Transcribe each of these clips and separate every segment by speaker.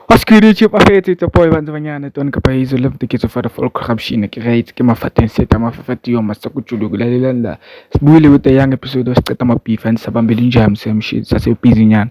Speaker 1: What's good YouTube? I hate it, boy, bantu banyana, toni kapa hizo love tikizo for the full corruption, ki right, ki mafaten seta, mafafati yo, masa kuchulu, gula lila la. Sbuile with the young episode, was teta mapifa, and sabambili njam, same shit, sasa upizi nyan.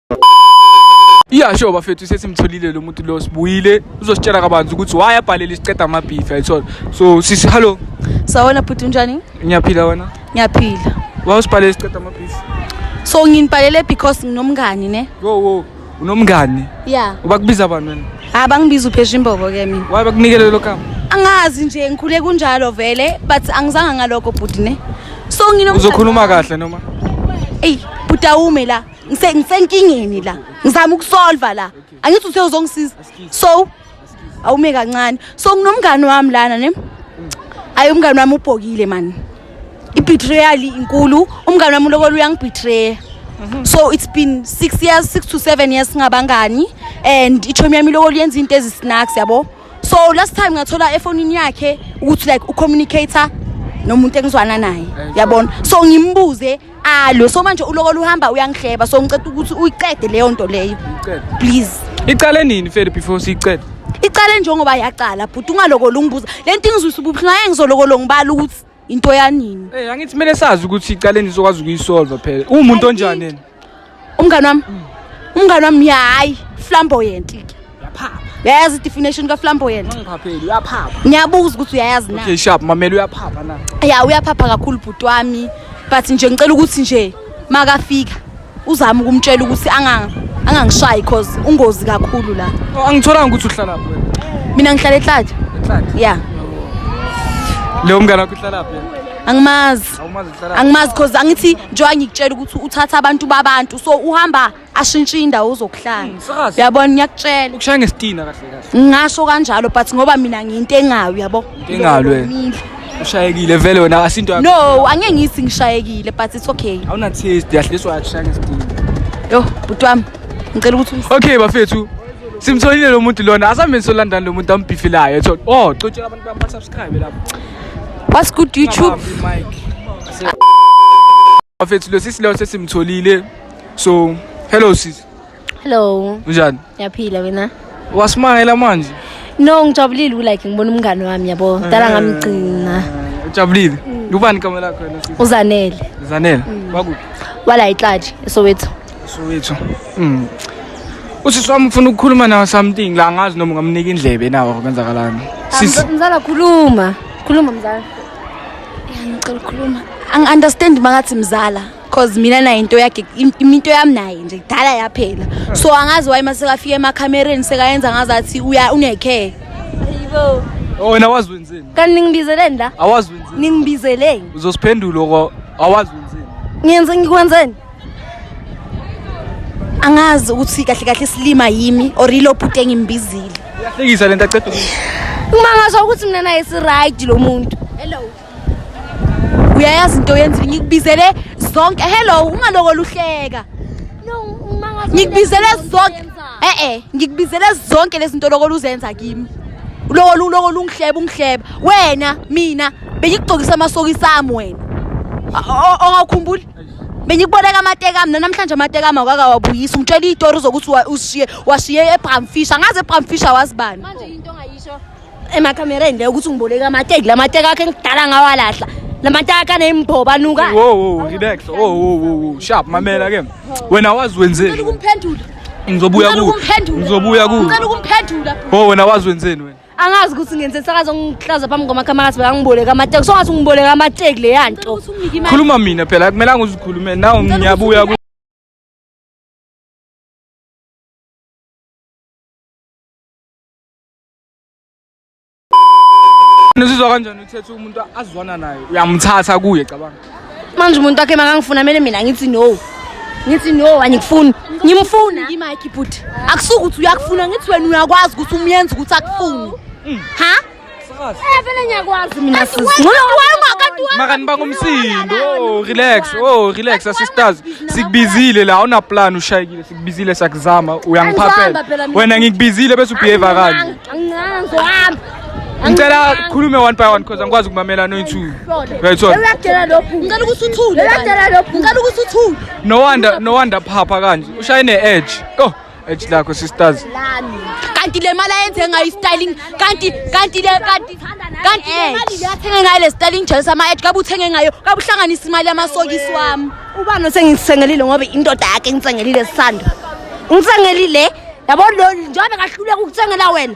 Speaker 1: iyasho bafethu sesimtholile lo muntu lo sibuyile uzositshela kabanzi ukuthi why abhalele isiqeda amabhifi ayithola so sisi hallo sawona bhuti
Speaker 2: unjani ngiyaphila wena
Speaker 1: ngiyaphila
Speaker 2: wawusibhalele isiqeda
Speaker 1: amabhifi so nginibhalele
Speaker 2: because nginomngani ne wo wo
Speaker 1: unomngani ya ubakubiza
Speaker 2: bani wena
Speaker 1: ha bangibiza uphesha imbobo
Speaker 2: ke mina why bakunikele lo kama
Speaker 1: angazi nje ngikhule
Speaker 2: kunjalo vele but angizanga ngalokho bhuti ne so nginomngani uzokhuluma kahle
Speaker 1: noma eyi bhuti
Speaker 2: awume la ngise ngisenkingeni la ngizama ukusolva la angithi uthe uzongisiza so awume kancane so nginomngani wami lana ne ayi umngani wami ubhokile mani i-betrayal inkulu umngani wami ulokola uyangibetray mhm. so it's been six years six to seven years singabangani and ichomi yami ilokola yenza into ezisnacks yabo so last time ngathola efonini yakhe ukuthi like ucommunicator nomuntu engizwana naye yabona so ngimbuze alo so manje uloko luhamba uyangihleba so ngicela ukuthi uyiqede leyo nto leyo please iqale nini
Speaker 1: fele before siyiqede iqale njengoba
Speaker 2: yaqala bhuti ungalokolo ungibuza le nto ingizwisa ubuhlungu aye ngizolokolo ngibala ukuthi into yanini Eh angithi kumele sazi
Speaker 1: ukuthi iqale nizokwazi ukuyisolva phela. Uwumuntu onjani yena? umngane wami
Speaker 2: umngane wami hayi flamboyant ke yayazi i-definition kaflamboyant
Speaker 1: ngiyabuza ukuthi uyayazi
Speaker 2: na okay sharp mamela
Speaker 1: uyaphapha na ya uyaphapha kakhulu
Speaker 2: bhuti wami but nje ngicela ukuthi nje makafika uzama ukumtshela ukuthi angangishayi cause ungozi kakhulu la oh, angitholanga ukuthi uhlala
Speaker 1: lapho mina ngihlala ehlaja
Speaker 2: ya
Speaker 1: leyo mngane wakho uhlalaphi angimazi angimazi
Speaker 2: because angithi njengoba ngikutshela ukuthi uthatha abantu babantu so uhamba ashintshe indawo ozokuhlala hmm, uyabona ngiyakutshela ukushaya ngesitina kahle
Speaker 1: kahle ngasho kanjalo but
Speaker 2: ngoba mina ngiyinto engayo yabo engalwe
Speaker 1: ushayekile vele wena asinto no angeke ngithi
Speaker 2: ngishayekile but it's okay awuna taste yahliswa
Speaker 1: akushaya ngesitina yo bhuti
Speaker 2: wami ngicela ukuthi okay bafethu
Speaker 1: simtholile lo muntu lona asambe nisolandani lo muntu ambhifilayo ethola oh cotshela abantu bami basubscribe lapho What's good
Speaker 2: YouTube?
Speaker 1: Bafethu lo sisi lo sesimtholile. So, hello sis. Hello.
Speaker 3: Unjani? Ngiyaphila
Speaker 1: wena.
Speaker 3: Wasimangela
Speaker 1: manje? No, ngijabulile
Speaker 3: ulike ngibona umngane wami yabo. Dala ngamgcina. Ujabulile?
Speaker 1: Ubani igama lakho wena sis? Uzanele. Zanele.
Speaker 3: Wakuphi?
Speaker 1: Wala iClaji
Speaker 3: eSoweto. Soweto. Mm.
Speaker 1: Usisi wami ufuna ukukhuluma nawe something la ngazi noma ungamnika indlebe nawo kwenzakalani. Sisi Mzala
Speaker 3: khuluma. Khuluma mzala. Ya ngicela ukukhuluma. Ang understand mangathi
Speaker 2: mzala cause mina naye into yakhe im- into yami naye nje kudala yaphela. So angazi why mase kafika emakhamereni sekayenza ngazi athi uya unecare. Ayibo.
Speaker 3: oh, wena wazi
Speaker 1: wenzeni? Kanti ningibizeleni la?
Speaker 3: Awazi wenzeni?
Speaker 1: Ningibizeleni.
Speaker 3: Uzosiphendula ko
Speaker 1: awazi wenzeni? Ngiyenze ngikwenzeni?
Speaker 2: angazi ukuthi kahle kahle silima yimi or ilo bhuti engimbizile uyahlekisa lento aqeda
Speaker 1: kumangasho
Speaker 3: ukuthi mina naye si-right lo muntu hello
Speaker 2: uyayazi into yenzile ngikubizele zonke hello ungaloko luhleka
Speaker 3: ngikubizele zonke
Speaker 2: e-e ngikubizele zonke lezi nto loko luzenza kimi loko loko lungihleba ungihleba wena mina bengikugcokisa amasokisi ami wena ongakhumbuli Benikuboneka amateka mina namhlanje amateka ama wakawabuyisa ungitshela izitori zokuthi wa- ushiye washiye eBramfisher ngaze eBramfisher wazibani manje into
Speaker 3: ongayisho emakamereni le ukuthi ngiboleka amateki la mateki akhe ngidala ngawalahla la mateki akhe anemboba nuka Wo wo relax. Wo
Speaker 1: wo wo wo. Sharp mamela ke. Wena wazi Ngicela wenzeni? ukumphendula
Speaker 2: Ngizobuya Ngicela ku.
Speaker 1: ukumphendula. Ngizobuya ku. Ngicela
Speaker 2: ukumphendula Oh wena wazi wenzeni
Speaker 1: wena? angazi ukuthi ngenze
Speaker 3: sakazo ngihlaza phambi kwamakamera sibeka ngiboleka amateki so ngathi ngiboleka amateki le yanto khuluma mina
Speaker 1: phela akumelanga uzikhulume naw ngiyabuya Nizizwa kanjani uthethe umuntu azwana naye uyamthatha kuye cabanga manje umuntu wakhe
Speaker 3: makangifuna kumele mina ngithi no ngithi no angikufuni ngimfuna ngimike bhuti
Speaker 2: akusuke ukuthi uyakufuna ngithi wena uyakwazi ukuthi umyenze ukuthi akufuni
Speaker 3: mm.
Speaker 2: ha
Speaker 3: eh,
Speaker 2: vele
Speaker 3: ngiyakwazi mina
Speaker 1: makani bangomsindo oh, relax oh relax asistars sikubizile la awunaplan ushayekile sikubizile sakuzama uyangiphaphela wena ngikubizile bese ubehave kanje
Speaker 3: ngicela
Speaker 1: khulume one by one because angikwazi ukumamela noyithu uyayithola uyakutshela lokhu ngicela
Speaker 3: ukuthi uthule uyakutshela lokhu ngicela ukuthi uthule no wonder no wonder
Speaker 1: phapha kanje ushaye ne edge oh edge lakho sisters lami kanti
Speaker 2: le mali ayenze ngayo styling kanti kanti le kanti kanti le mali yathenge ngayo le styling jealous ama edge kabe uthenge ngayo kabe uhlanganisa imali yamasokisi wami ubani osengisengelile
Speaker 3: ngoba indoda yakhe ngitsengelile sisando ngitsengelile yabo lo njengoba kahluleka ukutsengela wena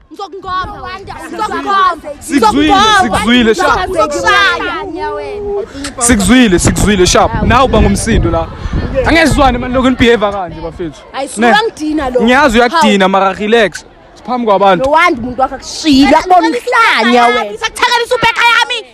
Speaker 1: sikuzwile sikuzwile sikuzwile sharp nawe uba ngumsindo la angezizwane mani lokhu nibehave kanje bafethu ngiyazi
Speaker 2: uyakudina mara
Speaker 1: relax siphambi kwabantu lowandi umuntu wakho
Speaker 3: akushilo akubona umhlanya wena isakuthekelisa ubheka yami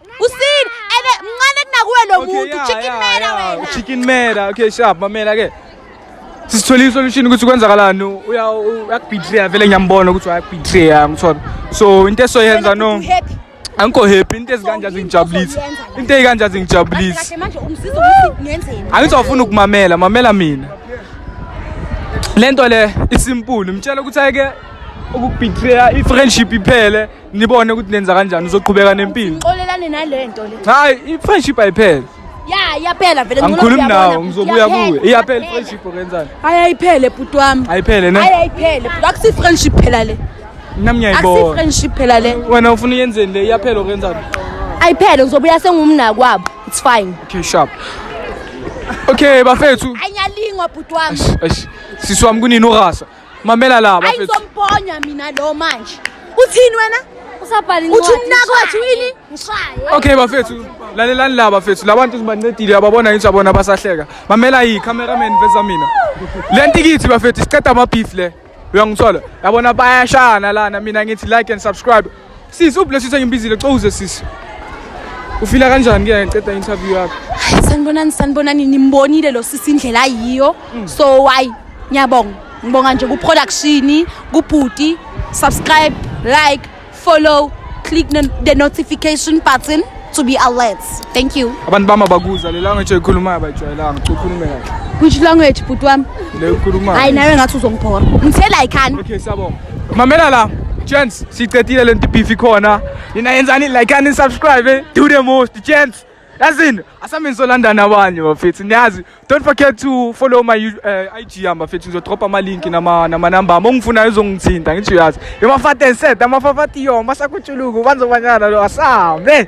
Speaker 2: Usini ebe mncane kunakuwe lo muntu chicken
Speaker 1: mera wena. Chicken mera. Okay, sharp mamela ke. Sisithole isolution ukuthi kwenzakalani uya uyakubetray vele ngiyambona ukuthi uyakubetray ngithola. So into esoyenza no. Happy angikho happy into ezikanje azingijabulisi into eyikanje azingijabulisi
Speaker 2: angizofuna ukumamela
Speaker 1: mamela mina lento le isimpulu mtshela ukuthi ayike ukubetreya i-friendship iphele nibone ukuthi nenza kanjani uzoqhubeka nempilo xolelane nalento
Speaker 2: le hayi i-friendship
Speaker 1: ayiphele ya iyaphela
Speaker 3: vele angikhulumi nawo ngizobuya
Speaker 1: kuwe iyaphela i-friendship okenzani hayi ayiphele bhuti
Speaker 2: wami ayiphele ne hayi ayiphele
Speaker 1: bhuti akusi-friendship
Speaker 2: phela le mina ngiyayibona
Speaker 1: akusi-friendship
Speaker 2: phela le
Speaker 1: wena
Speaker 2: ufuna uyenzeni le
Speaker 1: iyaphela okenzani ayiphele
Speaker 3: ngizobuya sengumnakwabo it's fine okay sharp
Speaker 1: okay bafethu anyalingwa
Speaker 2: bhuti wami sisi wami
Speaker 1: kunini urasa mamela la bafethu ayizomponya mina lo
Speaker 2: manje uthini wena usabhala incwadi uthi
Speaker 3: umnako wathi
Speaker 2: yini ngishaye okay
Speaker 3: bafethu
Speaker 1: lalelani la bafethu labantu sibancedile ababona yinto abona basahleka mamela yi cameraman veza mina le ntikithi bafethu siqeda ama beef le uyangithola yabona bayashana lana mina ngithi like and subscribe Sisi ubless uthi ngimbizile cowuze sisi. Ufila kanjani ke ngiceda interview yakho? Hayi sanibonani sanibonani
Speaker 2: nimbonile lo sisi indlela ayiyo. Mm. So why? Ngiyabonga. Ngibonga nje ku production, ku booty, subscribe, like, follow, click the notification button. to be alert thank you abantu bami abakuza le
Speaker 1: language oyikhulumayo abayijwayelanga cha ukhulume kahle which language bhuti
Speaker 2: wami le ukhulumayo hayi
Speaker 1: nawe ngathi uzongibhora
Speaker 2: ngithela ikhani okay siyabonga
Speaker 1: mamela la gents siqedile le nto ibifi khona nina yenzani like and subscribe eh? do the most gents yazini asamini solandana abanye bafethu niyazi Don't forget to follow my uh, IG hamba mfethu ngizodropa ama link nama nama number ama ongifuna uzongithinta ngithi uyazi. Yomafate set amafafati yoma sakutshuluku banzobanyana lo asambe.